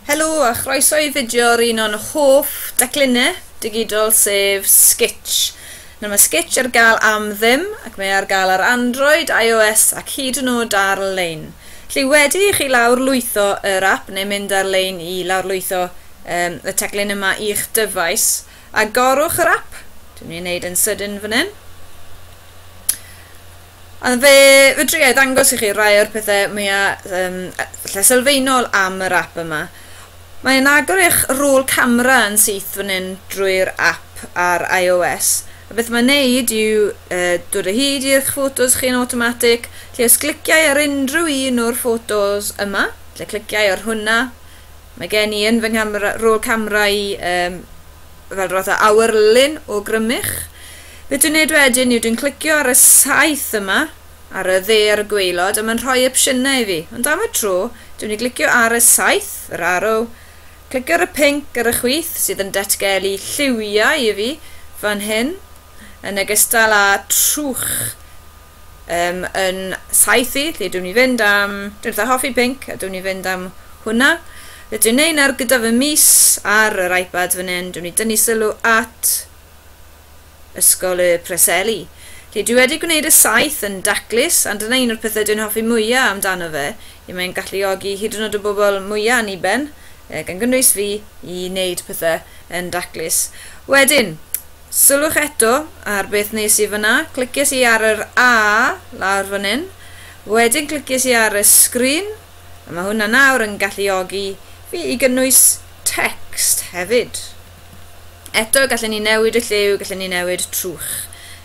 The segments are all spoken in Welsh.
Helo a chroeso i fideo ar un o'n hoff daclunau digidol sef Sketch. Nawr mae Sketch ar gael am ddim ac mae ar gael ar Android, iOS ac hyd yn oed ar-lein. Felly wedi i chi lawr lwytho yr app neu mynd ar-lein i lawrlwytho um, y taclun yma i'ch dyfais, agorwch yr app, dwi'n mynd i wneud yn sydyn fan hyn, Ond fe fedra i ddangos i chi rai o'r pethau mwya um, lle sylfaenol am yr app yma. Mae'n agor eich rôl camera yn syth fan hyn drwy'r app ar iOS. A beth mae'n neud yw uh, dod o hyd i'ch ffotos chi'n automatic, lle os cliciau ar unrhyw un o'r ffotos yma, lle cliciau ar hwnna, mae gen i yn fy nghamera, rôl camera i um, fel roedd y awyr lun o grymych. Be dwi'n neud wedyn yw dwi'n clicio ar y saeth yma, ar y dde ar y gweilod, a mae'n rhoi opsiynau i fi. Ond am y tro, dwi'n ei glicio ar y saeth, yr arrow, clicio ar y pink ar y chwith sydd yn datgelu lliwiau i fi fan hyn, yn ogystal â trwch um, yn saethu, lle dwi'n ni fynd am... Dwi'n eitha hoffi pink, a dwi'n ni fynd am hwnna. Lle dwi'n neud ar gyda fy mis ar yr iPad fan hyn, dwi'n ni dynnu sylw at Ysgol y Preseli. Lle dwi wedi gwneud y saith yn daclus, a dyna un o'r pethau dwi'n hoffi mwyaf amdano fe, i mae'n galluogi hyd yn oed y bobl mwyaf aniben, gan gynnwys fi, i wneud pethau yn daclus. Wedyn, Sylwch eto ar beth nes i fan'na, cliciais i ar yr A lawr fan hyn, wedyn cliciais i ar y sgrin, a mae hwnna nawr yn galluogi fi i gynnwys text hefyd. Eto, gallen ni newid y lliw, gallen ni newid trwch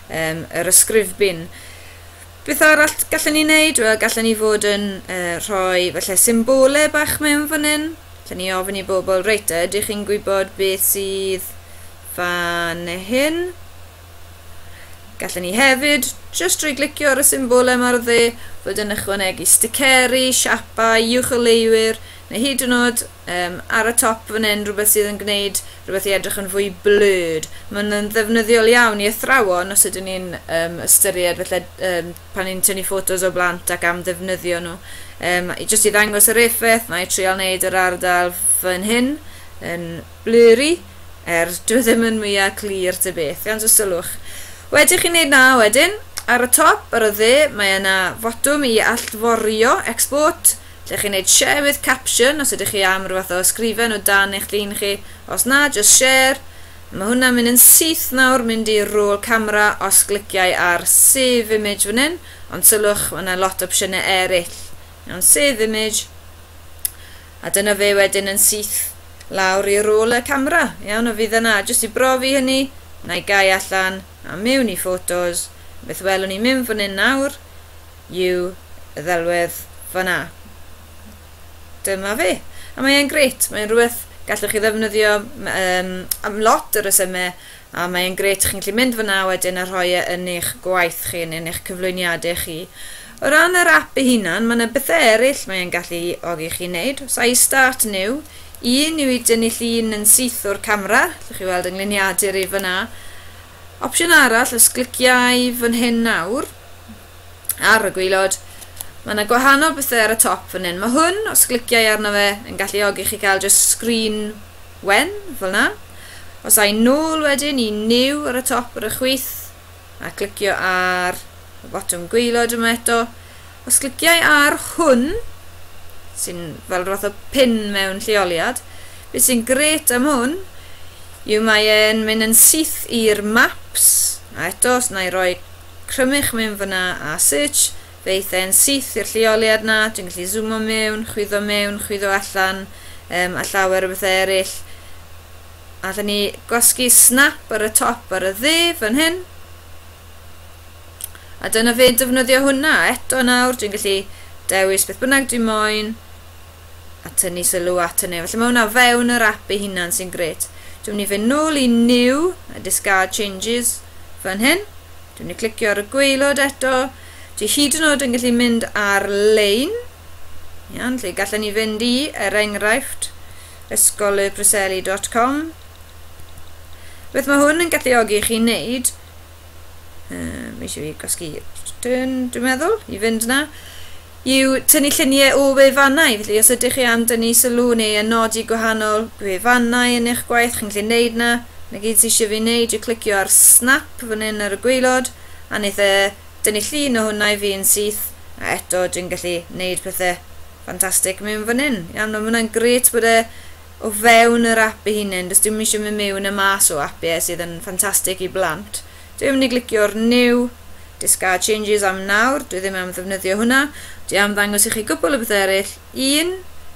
um, yr ysgrifbyn. Beth arall gallen ni wneud? Wel, gallen ni fod yn uh, rhoi falle symbolau bach mewn fan hyn. Gallen ni ofyn i bobl, reit, ydych chi'n gwybod beth sydd fan hyn. Gallwn ni hefyd, just drwy glicio ar y symbol yma ar dde, fod yn ychwanegu sticeri, siapau, uwch o leiwyr, neu hyd yn oed um, ar y top fan hyn rhywbeth sydd yn gwneud rhywbeth i edrych yn fwy blurred. Mae'n yn ddefnyddiol iawn i athrawon os ydyn ni'n um, ystyried felly um, pan ni'n tynnu ffotos o blant ac am ddefnyddio nhw. Um, just i ddangos yr effaith, mae trial wneud yr ardal fan hyn yn Blurry, er, dyw e ddim yn mwya clir ta beth, ond y sylwch. Wedi chi wneud 'na, wedyn, ar y top, ar y dde, mae yna fotwm i allforio, Export, lle chi'n wneud Share with Caption os ydych chi am ryw fath o ysgrifen o dan eich llun chi, os na, jyst Share. Mae hwnna'n mynd yn syth nawr, mynd i Roll Camera os gliciai ar Save Image fan hyn, ond sylwch, mae yna lot o opsiynau eraill. Iawn, Save Image. A dyna fe wedyn yn syth lawr i rôl y camera. Iawn, a fydd yna, jyst i brofi hynny, na i gau allan a mewn i ffotos. Beth welwn ni mewn fan hyn nawr yw y ddelwedd fanna. Dyma fe. A mae'n gret, mae'n rhywbeth gallwch chi ddefnyddio um, am lot o resymau a mae'n gret, chi'n gallu mynd fanna wedyn a rhoi e yn eich gwaith chi, yn eich cyflwyniadau chi. O ran yr ap ei hunan, mae yna bethau eraill mae e'n gallu ogi chi wneud. Os ai start new, un yw i dynnu llun yn syth o'r camera, allwch chi weld yngluniadur i fyna. Opsiwn arall, os gliciau fan hyn nawr, ar y gwylod, mae yna gwahanol bethau ar y top fan hyn. Mae hwn, os gliciau arno fe, yn gallu ogi chi cael just screen wen, fel yna. Os ai nôl wedyn i new ar y top ar y chwith, a clicio ar y botwm gwaelod yma eto. Os cliciau ar hwn, sy'n fel roth o pin mewn lleoliad, beth sy'n gret am hwn yw mae e'n mynd yn syth i'r maps, a eto os na i roi crymych mewn fyna a search, fe eith e'n syth i'r lleoliad na, dwi'n gallu zoomo mewn, chwyddo mewn, chwyddo allan, um, a llawer o bethau eraill. A dyn ni gwasgu snap ar y top ar y dde fan hyn. A dyna fe defnyddio hwnna. Eto nawr dwi'n gallu dewis beth bynnag dwi'n moyn a tynnu sylw at hynny. Felly mae hwnna fewn yr app ei hunan sy'n gret. Dwi'n mynd i fe nôl i new a discard changes fan hyn. Dwi'n mynd i clicio ar y gweilod eto. Dwi hyd yn oed yn gallu mynd ar-lein. Iawn, lle gallen ni fynd i, er enghraifft, ysgolybryselli.com Beth mae hwn yn galluogi i chi wneud? Um, mae eisiau fi gosgi return, dwi'n meddwl, i fynd yna. Yw tynnu lluniau o wefannau, felly os ydych chi am dynnu sylw neu yn nodi gwahanol wefannau yn eich gwaith, chi'n gallu gwneud yna. Na gyd sy'n eisiau fi wneud yw clicio ar snap fan hyn ar y gweilod, a wneud e dynnu llun o hwnna i fi yn syth, a eto dwi'n gallu gwneud pethau Fantastic mewn fan hyn. Iawn, mae hwnna'n gret bod e o fewn yr app ei hunain. Does dim eisiau mynd mewn a mas o app ie, sydd yn ffantastig i blant. Dwi'n mynd i glicio'r new discard changes am nawr. Dwi ddim am ddefnyddio hwnna. Dwi am ddangos i chi gwpl o bethau eraill. Un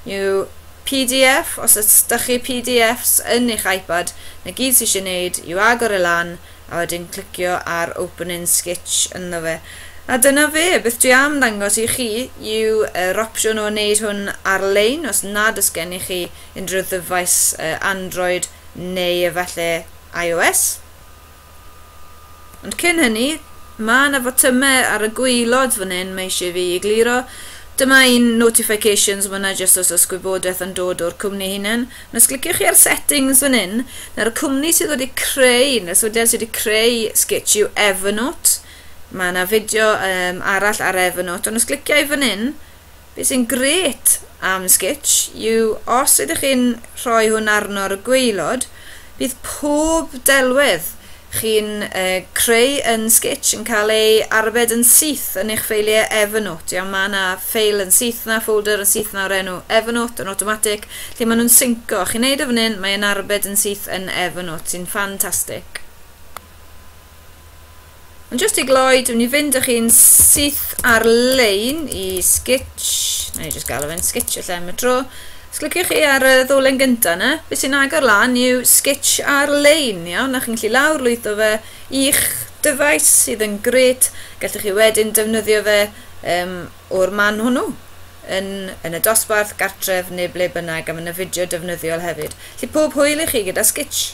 yw PDF, os ydych chi PDFs yn eich iPad, na gyd sydd eisiau gwneud yw agor e lan a wedyn clicio ar open in sketch ynddo fe a dyna fe, beth dwi am ddangos i chi yw yr opsiwn o wneud hwn ar-lein os nad oes gennych chi unrhyw ddyfais Android neu efallai iOS. Ond cyn hynny, mae yna fotymau ar y gwaelod fan hyn mae eisiau fi egluro. Dyma un notifications, mae yna jyst os oes gwybodaeth yn dod o'r cwmni hunain. Ond os cliciwch chi ar settings fan hyn, nawr y cwmni sydd wedi creu, neu'r sefydliad sydd wedi creu Sketch yw Evernote. Mae yna fideo um, arall ar Evernote, ond os cliciau fan hyn, beth sy'n gret am Sketch yw os ydych chi'n rhoi hwn arno ar y gweilod, bydd pob delwedd chi'n creu yn Sketch yn cael ei arbed yn syth yn eich ffeiliau Evernote. Iawn, mae yna ffeil yn syth na, folder yn syth na o'r enw Evernote yn automatic, lle maen nhw'n synco. Chi'n neud o fan hyn, mae'n arbed yn syth yn Evernote, sy'n ffantastig. Ond jyst i gloi, dwi'n mynd i fynd â chi'n syth ar-lein i Sketch. Na i jyst gael o fe'n Sketch y lle am y tro. Os cliciwch chi ar y ddolen gynta' 'na, be' sy'n agor lan yw Sketch ar-lein, iawn, a chi'n gallu lawr-lwytho fe i'ch dyfais, sydd yn grêt. Gallwch chi wedyn defnyddio fe um, o'r man hwnnw, yn, yn y dosbarth, gartref neu ble bynnag, a mae yna fideo defnyddiol hefyd. Felly pob hwyl i chi gyda Sketch!